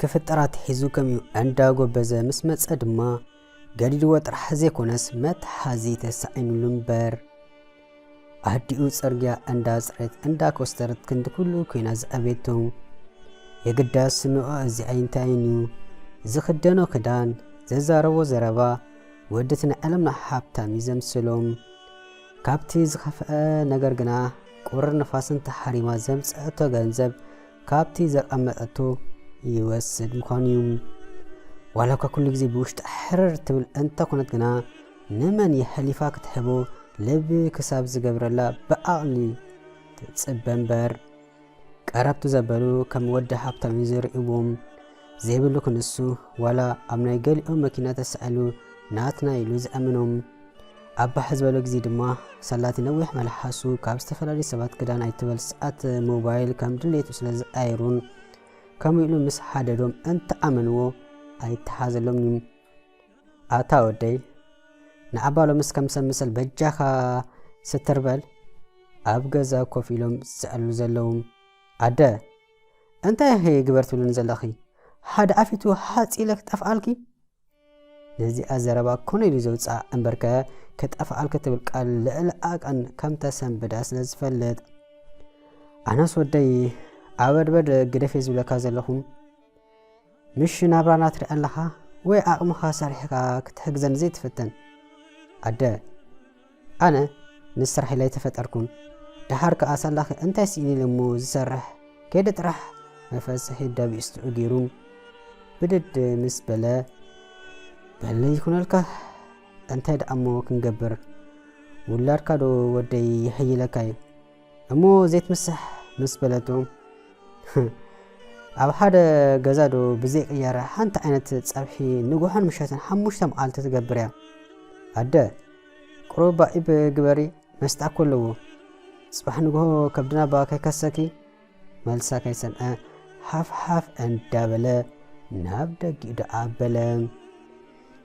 ክፍጠር ኣትሒዙ ከምኡ እንዳጎበዘ ምስ መጸ ድማ ገዲድዎ ጥራሕ ዘይኮነስ መትሓዚ ተሳኢኑሉ እምበር ኣዲኡ ጽርግያ እንዳጽረየት እንዳኮስተረት ክንዲ ኩሉ ኮይና ዝዓበየቶ የግዳስ ስምዖ እዚ ኣይንታይን እዩ ዝኽደኖ ክዳን ዘዛረቦ ዘረባ ወድት ናይ ዓለምና ሃብታም እዩ ዘምስሎም ካብቲ ዝኸፍአ ነገር ግና ቁርን ንፋስን ተሓሪማ ዘምጸአቶ ገንዘብ ካብቲ ዘቐመጠቶ ይወስድ ምዃኑ እዩ። ዋላ እኳ ኩሉ ግዜ ብውሽጣ ሕርር ትብል እንተኾነት ግና ንመን የሕሊፋ ክትሕቦ ልቢ ክሳብ ዝገብረላ ብዓቕሊ ትጽበ እምበር። ቀረብቱ ዘበሉ ከም ወዲ ሃብታም እዩ ዝርእይዎም። ዘይብሉ ክንሱ ዋላ ኣብ ናይ ገሊኦም መኪና ተሳኢሉ ናትና ኢሉ ዝኣምኖም ኣብ ባሕ ዝበሎ ግዜ ድማ ሰላቲ ነዊሕ መልሓሱ ካብ ዝተፈላለዩ ሰባት ክዳን ኣይትበል ሰዓት ሞባይል ከም ድሌቱ ስለ ዝኣይሩን ከምኡ ኢሉ ምስ ሓደዶም እንተኣመንዎ ኣይተሓዘሎምን እዩ ኣታ ወደይ ንዓባ ሎምስ ከም ሰብ ምሰል በጃኻ ስትርበል ኣብ ገዛ ኮፍ ኢሎም ዝስዕሉ ዘለዉ ኣደ እንታይ እሄ ግበር ትብልኒ ዘለኺ ሓደ ኣፊቱ ሃጽ ኢለ ክጠፍኣልኪ ነዚኣ ዘረባ ኮነ ኢሉ ዘውጽኣ እምበርከ ክጠፍኣልኪ ትብል ቃል ልዕሊ ኣቀን ከም ተሰንብዳ ስለ ዝፈልጥ ኣነስ ወደይ ኣበድበድ ግደፌ ዝብለካ ዘለኹ ምሽ ናብራና ትሪኢ ኣለኻ ወይ ዓቕምኻ ሰሪሕካ ክትሕግዘኒ ዘይትፍትን? ኣደ፣ ኣነ ምስ ስራሕለ ኣይተፈጠርኩን፣ ደሓር ከኣ ሳላኺ እንታይ ስኢኒ ኢለ እሞ ዝሰርሕ ከይደ ጥራሕ መፈሰሒ ደብኢስትዑ ገይሩ ብድድ ምስ በለ በለይ ይኹነልካ እንታይ ደኣ እሞ ክንገብር ውላድካ ዶ ወደይ ይሕይለካ እዩ እሞ ዘይትምሳሕ ምስ በለቶም ኣብ ሓደ ገዛ ዶ ብዘይ ቅያራ ሓንቲ ዓይነት ጸብሒ ንጉሖን ምሸትን ሓሙሽተ መዓልቲ ትገብር እያ ኣደ ቁሩባ ኢብ ግበሪ መስጣ እኮ ኣለዎ ጽባሕ ንግሆ ከብድና ባ ከይከሰኪ መልሳ ከይሰምዐ ሓፍሓፍ እንዳበለ ናብ ደጊኡ ደኣ ኣበለ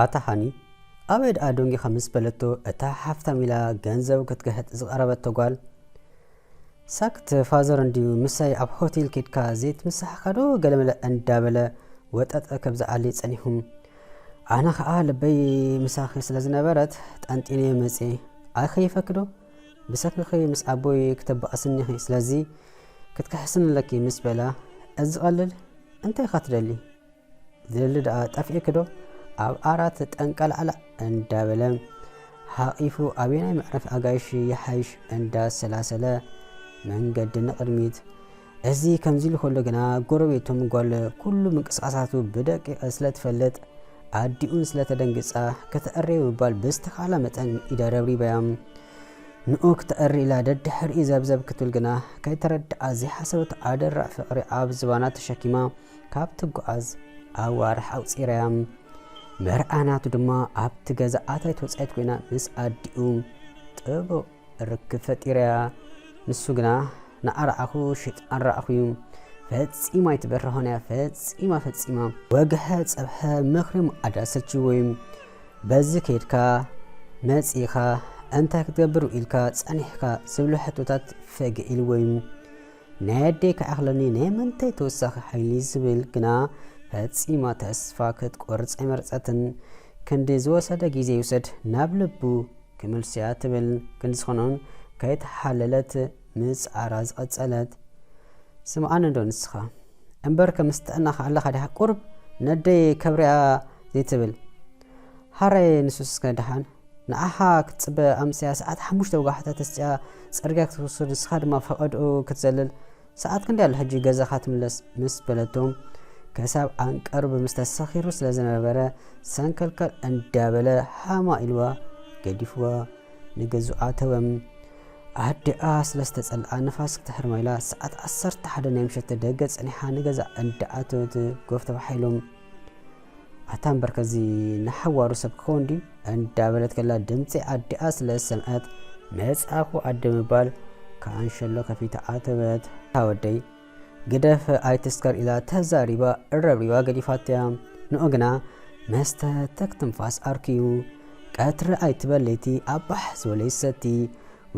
ኣታ ሃኒ ኣበይ ድኣ ደንጊኻ ምስ በለቶ እታ ሓፍታም ኢላ ገንዘብ ክትግሕጥ ዝቐረበቶ ጓል ሳክት ፋዘር እንድዩ ምሳይ ኣብ ሆቴል ኬድካ ዘይትምሳሕካ ዶ ገለመለ እንዳበለ ወጠጠ ከብዝዓሊ ጸኒሑም ኣነ ኸኣ ልበይ ምሳኺ ስለ ዝነበረት ጠንጢነ መጽየ ኣይኸይፈክዶ ብሰንክኺ ምስ ኣቦይ ክተባእስኒ ኢኺ ስለዚ ክትክሕስኒ ኣለኪ ምስ በላ እዚ ቀልል እንታይ ኢኻ ትደሊ ዝደሊ ደኣ ጠፊእክዶ ኣብ ኣራት ጠንቀላዕላዕ እንዳበለ ሓቒፉ ኣበየናይ መዕረፊ ኣጋይሽ ይሓይሽ እንዳሰላሰለ መንገዲ ንቕድሚት እዚ ከምዚ ኢሉ ከሎ ግና ጎረቤቶም ጓል ኩሉ ምንቅስቓሳቱ ብደቂቕ ስለ ትፈልጥ ኣዲኡን ስለ ተደንግጻ ከተዕርዮ ምባል ብዝተኻእላ መጠን ኢዳ ረብሪባያ። ንኡ ክተዕሪ ኢላ ደድሕሪኡ ዘብዘብ ክትብል ግና ከይተረድኣ ዘይሓሰበቶ ኣደራዕ ፍቕሪ ኣብ ዝባና ተሸኪማ ካብ ትጓዓዝ ኣዋርሕ ኣቑጺራያ። መርዓ ናቱ ድማ ኣብቲ ገዛ ኣታዊት ወጻኢት ኮይና ምስ ኣዲኡ ጥቡቕ ርክብ ፈጢረያ ንሱ ግና ንኣርኣኹ ሽጥ ኣራኣኹዩ ፈጺማ ኣይትበርሆንያ ፈጺማ ፈጺማ ወግሐ ጸብሐ ምኽሪ ምኣዳ ሰልችዎዩ በዚ ከይድካ መጺእኻ እንታይ ክትገብር ውኢልካ ጸኒሕካ ዝብሉ ሕቶታት ፈገ ኢልዎዩ ናይ ኣደይ ክኣኽለኒ ናይ ምንታይ ተወሳኺ ሓይሊ ዝብል ግና ፈጺማ ተስፋ ክትቆርጽ ኣይመረጸትን። ክንዲ ዝወሰደ ግዜ ይውሰድ ናብ ልቡ ክምልሶ'ያ ትብል ክንዲ ዝኾኖን ከይተሓለለት ምጽዓራ ዝቐጸለት። ስምዓኒ'ዶ ንስኻ። እምበርከ ምስ ጥዕናኻ ኣለኻ ድያ ቁሩብ ነደይ ከብርያ ዘይትብል። ሐራየ ንሱስከ ድሓን። ንዓኻ ክትጽበ ኣምስያ ሰዓት ሓሙሽተ ወጋሕታ ተስጽያ ጽርግያ ክትውስድ ንስኻ ድማ ፈቐድኡ ክትዘልል ሰዓት ክንደይ ኣሎ ሕጂ ገዛኻ ትምለስ ምስ በለቶ ክሳብ ዓንቀሩ ብምስተ ሰኺሩ ስለ ዝነበረ ሰንከልከል እንዳበለ ሃማ ኢልዋ ገዲፍዋ ንገዝኡ ኣተወ ኣዲኣ ስለ ዝተጸልኣ ንፋስ ክትሕርማ ኢላ ሰዓት ዓሰርተ ሓደ ናይ ምሸት ደገ ጸኒሓ ንገዛ እንዳኣተወት ጎፍ ተባሒሎም ኣታ እምበር ከዚ ንሓዋሩ ሰብ ክኸውን ድዩ እንዳበለት ከላ ድምጺ ኣዲኣ ስለ ዝሰምዐት መጻእኩ ኣደ ምባል ካንሸሎ ከፊታ ኣተወት። ኣታ ወደይ ግደፍ ኣይትስከር ኢላ ተዛሪባ እረብሪባ ገዲፋቶያ። ንኡ ግና መስተ ተክ ትንፋስ ኣርክዩ ቀትሪ ኣይትበል ለይቲ ኣብ ባሕ ዝበለ ይሰቲ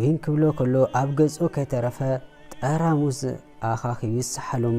ዊን ክብሎ ከሎ ኣብ ገጹ ከይተረፈ ጠራሙዝ ኣኻኺቡ ይሰሓሎም።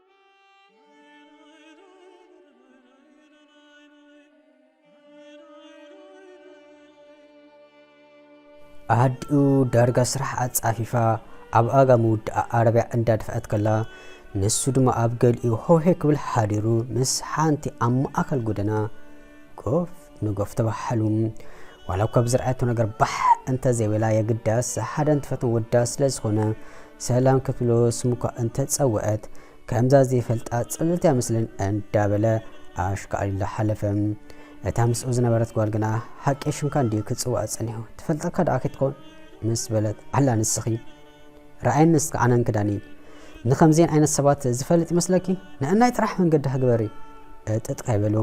ኣዲኡ ዳርጋ ስራሕ ኣጻፊፋ ኣብ ኣጋ ምውድኣ ዓረብያ እንዳደፍኣት ከላ ንሱ ድማ ኣብ ገሊኡ ሆሄ ክብል ሓዲሩ ምስ ሓንቲ ኣብ ማእከል ጎደና ኮፍ ንገፍ ተባሓሉ ዋላ እኳ ብዝርኣየቶ ነገር ባሕ እንተዘይበላ የግዳስ ሓደ እንትፈትም ወዳ ስለ ዝኾነ ሰላም ክትብሎ ስሙ እኳ እንተጸውዐት ከምዛ ዘይፈልጣ ጽልልቲ ኣይመስልን እንዳበለ ኣሽካዕሊሉ ሓለፈ። እታ ምስኡ ዝነበረት ጓል ግና ሓቂ ሽምካ እንድዩ ክጽውዐ ጸኒሑ ትፈልጠካ ደኣ ከይትኮን ምስ በለት ኣላ ንስኺ ርኣየኒ እስከ ኣነን ክዳነይን ንከምዚኤን ዓይነት ሰባት ዝፈልጥ ይመስለኪ? ንዕናይ ጥራሕ መንገድኪ ግበሪ እጥጥ ካይበሉ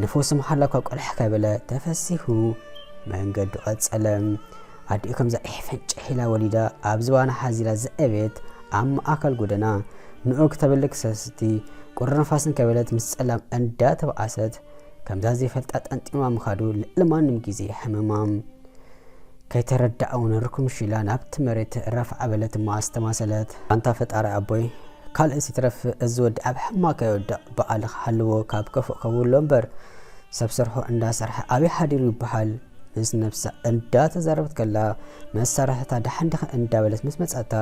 ንፈውሲ መሓላ እኳ ቆልሕ ካይበለ ተፈሲሁ መንገዱ ቀጸለ። ኣዲኡ ከምዛ ዒሕ ፈንጭሕ ኢላ ወሊዳ ኣብ ዝባና ሓዚላ ዘዕቤት ኣብ ማእከል ጎደና ንኡ ክተብሊ ክሰስቲ ቁሪ ንፋስን ካይበለት ምስ ጸላም እንዳ ተባኣሰት ከምዛ ዘይፈልጣ ጠንጢኑዋ ምኻዱ ልዕሊ ማንም ግዜ የሕምማ። ከይተረደኣ ውን ርክምሽ ኢላ ናብቲ መሬት ረፍዓ በለት እሞ ኣስተማሰለት። ኣንታ ፈጣሪ ኣቦይ ካልእስ ይትረፍ እዚ ወዲ ኣብ ሕማቕ ከይወድቕ ብቓልኻ ሓልዎ ካብ ከፉእ ከውሎ እምበር ሰብ ሰርሖ እንዳ ሰርሐ ኣበይ ሓዲሩ ይብሃል ምስ ነብሳ እንዳ ተዛረበት ከላ መሳርሕታ ደሓን ዲኺ እንዳ በለት ምስ መጻታ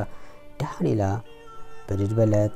ደሓን ኢላ ብድድ በለት።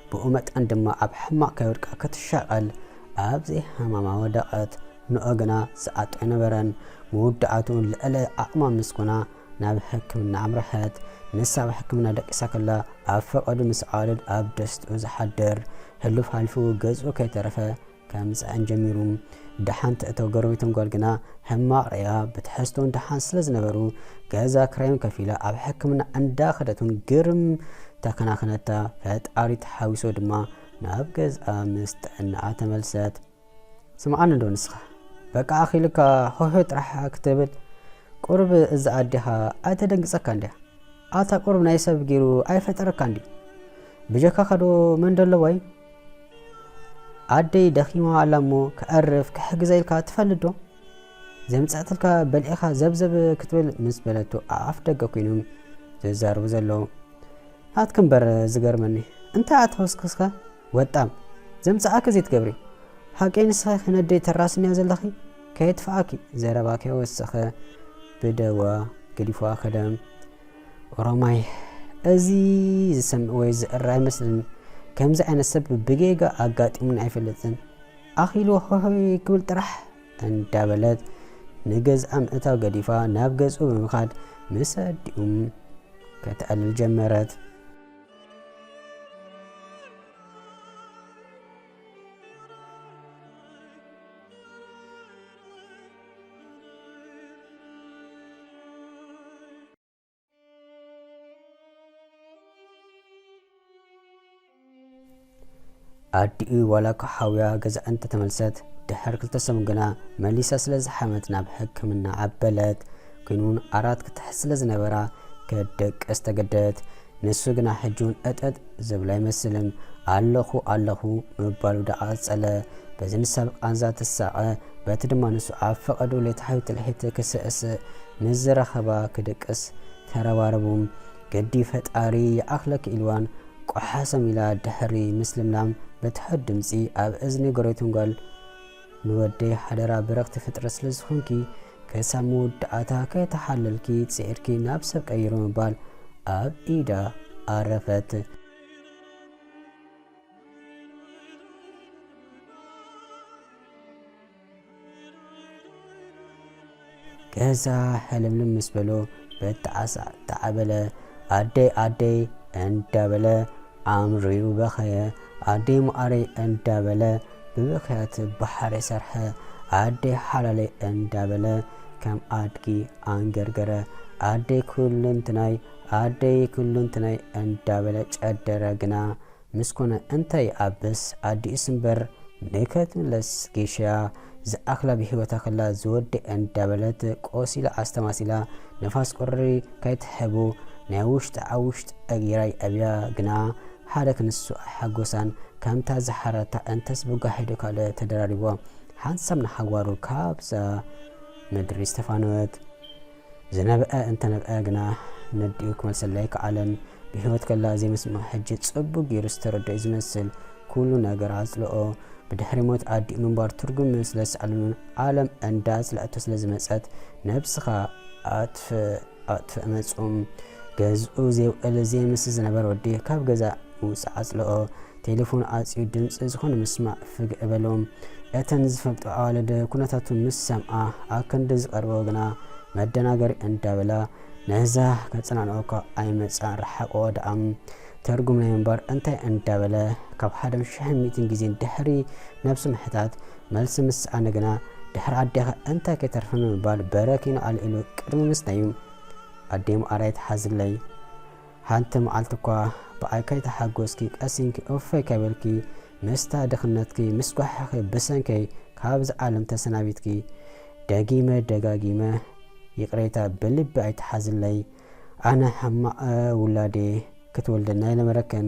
ብኡ መጠን ድማ ኣብ ሕማቕ ከይወድቃ ክትሻቐል ኣብ ዘይሃማማ ወደቐት። ኖእ ግና ዝኣቱ ኣይነበረን። መወዳእትኡ ልዕሊ ዓቕማ ምስ ኮና ናብ ሕክምና ኣምረሐት። ንሳ ኣብ ሕክምና ደቂሳ ከላ ኣብ ፈቐዱ ምስ ዓዋልድ ኣብ ደስትኡ ዝሓድር፣ ሕሉፍ ሓሊፉ ገዝኡ ከይተረፈ ከምጽኣን ጀሚሩ ደሓን ትእቶ ጎረቤቶም ጓል ግና ሕማቕ ርእያ ብትሕዝቶን ደሓን ስለ ዝነበሩ ገዛ ክራዮም ከፊላ ኣብ ሕክምና እንዳ ከደቱን ግርም ተከናክነታ ፈጣሪ ተሓዊሶ ድማ ናብ ገዝኣ ምስ ጥዕናኣ ተመልሰት ስምዓኒ እንዶ ንስኻ በቃ ኣኺልካ ሆሆ ጥራሕ ክትብል ቁርብ እዛ ኣዴኻ ኣይተደንግጸካ እንድያ ኣታ ቁርብ ናይ ሰብ ገይሩ ኣይፈጠረካ እንዲ ብጀካኻዶ መን ደለዋይ ኣደይ ደኺማ ኣላ እሞ ከዕርፍ ክሕግዘ ኢልካ ትፈልጥ ዶ? ዘምጸእትልካ በልዒኻ ዘብዘብ ክትብል ምስ በለቶ ኣብ ኣፍ ደገ ኮይኖም ዘዛርቡ ዘለዉ ናትኪ እምበር ዝገርመኒ እንታይ ኣተኸስክስከ ወጣም ዘምጽኣኪ ዘይትገብሪ ሃቂ ንስኺ ክነደይ ተራስንያ ዘለኺ ከየትፍኣኪ ዘረባ ከይወሰኸ ብደዋ ገዲፍዋ ከደም ኦሮማይ እዚ ዝሰምዕ ወይ ዝእረ ኣይመስልን ከምዚ ዓይነት ሰብ ብጌጋ ኣጋጢሙን ኣይፈልጥን ኣኺሉ ሆሆይ ክብል ጥራሕ እንዳበለት ንገዝኣ ምእታው ገዲፋ ናብ ገዝኡ ብምኻድ ምስ ኣዲኡም ከተዕልል ጀመረት። ኣዲኡ ዋላ እኳ ሓውያ ገዛ እንተ ተመልሰት፣ ድሕር ክልተ ሰሙን ግና መሊሳ ስለ ዝሓመት ናብ ሕክምና ኣበለት። ኲን እውን ኣራት ክትሕዝ ስለ ዝነበራ፣ ክትደቅስ ተገደደት። ንሱ ግና ሕጂውን እጠጥ ዝብሎ ኣይመስልን። ኣለኹ ኣለኹ ምባሉ ደኣ ቀጸለ። በዚ ንሳ ብቃንዛ ትሳቐ፣ በቲ ድማ ንሱ ኣብ ፈቐድኡ ሌታሕዩ ትልሒት ክስእስእ፣ ምስ ዝረኸባ ክድቅስ ተረባረቡ። ግዲ ፈጣሪ ይኣኽለኪ ኢልዋን ቆሓሰም ኢላ ድሕሪ ምስልምላም ብትሑት ድምጺ ኣብ እዝኒ ጎረቤቶም ጓል፣ ንወደይ ሓደራ ብርኽቲ ፍጥረት ስለ ዝኾንኪ ከሳብ መወዳኣታ ከይተሓለልኪ ጽዒርኪ ናብ ሰብ ቀይሮ ምባል ኣብ ኢዳ ኣረፈት። ገዛ ሕልምልም ምስ በሎ በጣዕሳ ተዓበለ ኣደይ ኣደይ እንዳበለ ኣምሪሩ በኸየ ኣደይ መዓረይ እንዳበለ ብብኽያት ባሕሪ ሰርሐ ኣደይ ሓላለይ እንዳበለ ከም ኣድጊ ኣንገርገረ ኣደይ ኩሉንትናይ ኣደይ ኩሉንትናይ እንዳበለ ጨደረ ግና ምስ ኮነ እንታይ ኣበስ ኣዲኡስ እምበር ንከትምለስ ጌሻ ዝኣክላ ብሂወታ ከላ ዝወደኣ እንዳበለት ቆሲላ ኣስተማሲላ ንፋስ ቁሪ ከይትሕቡ ናይ ውሽጢ ኣብ ውሽጢ ኣጊራይ ኣብያ ግና ሓደ ክንሱ ኣይሓጎሳን ከምታ ዝሓረታ እንተስ ብጓሒዶ ካልእ ተደራሪብዋ ሓንሳብ ንሓዋሩ ካብዛ ምድሪ ዝተፋነወት ዝነብዐ እንተነብዐ ግና ነዲኡ ክመልሰለይ ኣይከኣለን። ብህይወት ከላ ዘይምስምዓ ሕጂ ጽቡቕ ገይሩ ዝተረድኦ'ዩ ዝመስል። ኩሉ ነገር ኣጽልኦ። ብድሕሪ ሞት ኣዲኡ ምንባር ትርጉም ምስለዝሰኣነሉን ዓለም እንዳጽልኣቶ ስለዝመጸት ነብስኻ ኣጥፍእ ኣጥፍእ መጹ። ገዝኡ ዘይውዕል ዘይምስጥ ዝነበረ ወዲ ካብ ገዛ ምውጻእ ኣጽልኦ። ቴለፎን ኣጽዩ ድምጺ ዝኾነ ምስማዕ ፍግዕ እበሎም። እተን ዝፈልጦ ኣዋልድ ኩነታቱ ምስ ሰምዓ ኣክንዲ ዝቀርበኦ ግና መደናገሪ እንዳበላ ነዛ ከጸናንዖ እኳ ኣይመጽኣን ርሓቅኦ ድኣ ተርጉምለይ እምበር እንታይ እንዳበለ ካብ ሓደን ሽሕን ሚእትን ግዜን ድሕሪ ነብሱ ምሕታት መልሲ ምስ ሰኣነ ግና ድሕሪ ኣዴኻ እንታይ ከይተርፈ ምባል በረኪኑ ኣልዒሉ ቅድሚ ምስናዩ ኣዴ ምኣራ ይትሓዝለይ ሓንቲ መዓልቲ እኳ ብኣይ ከይተሓጎስኪ ቀስ ኢልኪ ኡፈይ ከይበልኪ ምስታ ድኽነትኪ ምስ ጓሕኺ ብሰንከይ ካብዛ ዓለም ተሰናቢትኪ ደጊመ ደጋጊመ ይቅሬታ ብልቢ ኣይትሓዝለይ ኣነ ሕማቅ ውላድየ ክትወልደኒ ኣይነበረክን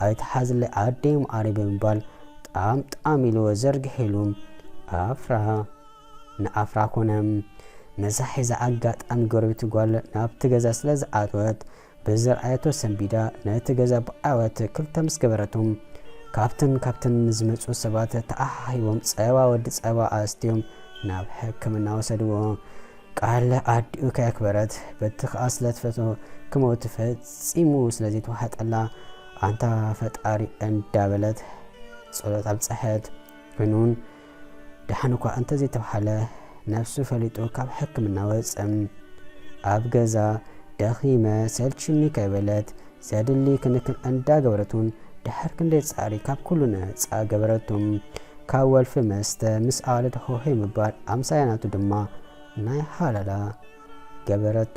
ኣይትሓዝለይ ኣደይ መዓረይ ብምባል ጣም ጣም ኢልዎ ዘርጊሒሉ ኣፍራ ንኣፍራ ኮነ ነዛ ሒዛ ኣጋጣሚ ጎረቤት ጓል ናብቲ ገዛ ስለ ዝኣተወት ብዝረኣየቶ ሰንቢዳ ነቲ ገዛ ብዓወት ክልተ ምስ ገበረቶ ካብትን ካብትን ንዝመጹ ሰባት ተኣሓሂቦም ጸባ ወዲ ጸባ ኣስትዮም ናብ ሕክምና ወሰድዎ። ቃል ኣዲኡ ከየክበረት በቲ ከኣ ስለ ትፈቶ ክመውት ፈጺሙ ስለ ዘይተዋሓጠላ ኣንታ ፈጣሪ እንዳበለት ጸሎት ኣብጸሐት። ኮይኑን ደሓን እኳ እንተ ዘይተብሃለ፣ ነብሱ ፈሊጡ ካብ ሕክምና ወጸ። ኣብ ገዛ፣ ደኺመ፣ ሰልችዩኒ ከይበለት፣ ዘድሊ ክንክን እንዳገበረቱን ድሕር ክንደይ ጸዕሪ ካብ ኩሉ ነጻ ገበረቱ። ካብ ወልፊ መስተ ምስ ኣዋልድ ሆሆይ ምባል ኣምሳያ ናቱ ድማ ናይ ሃለላ ገበረቱ።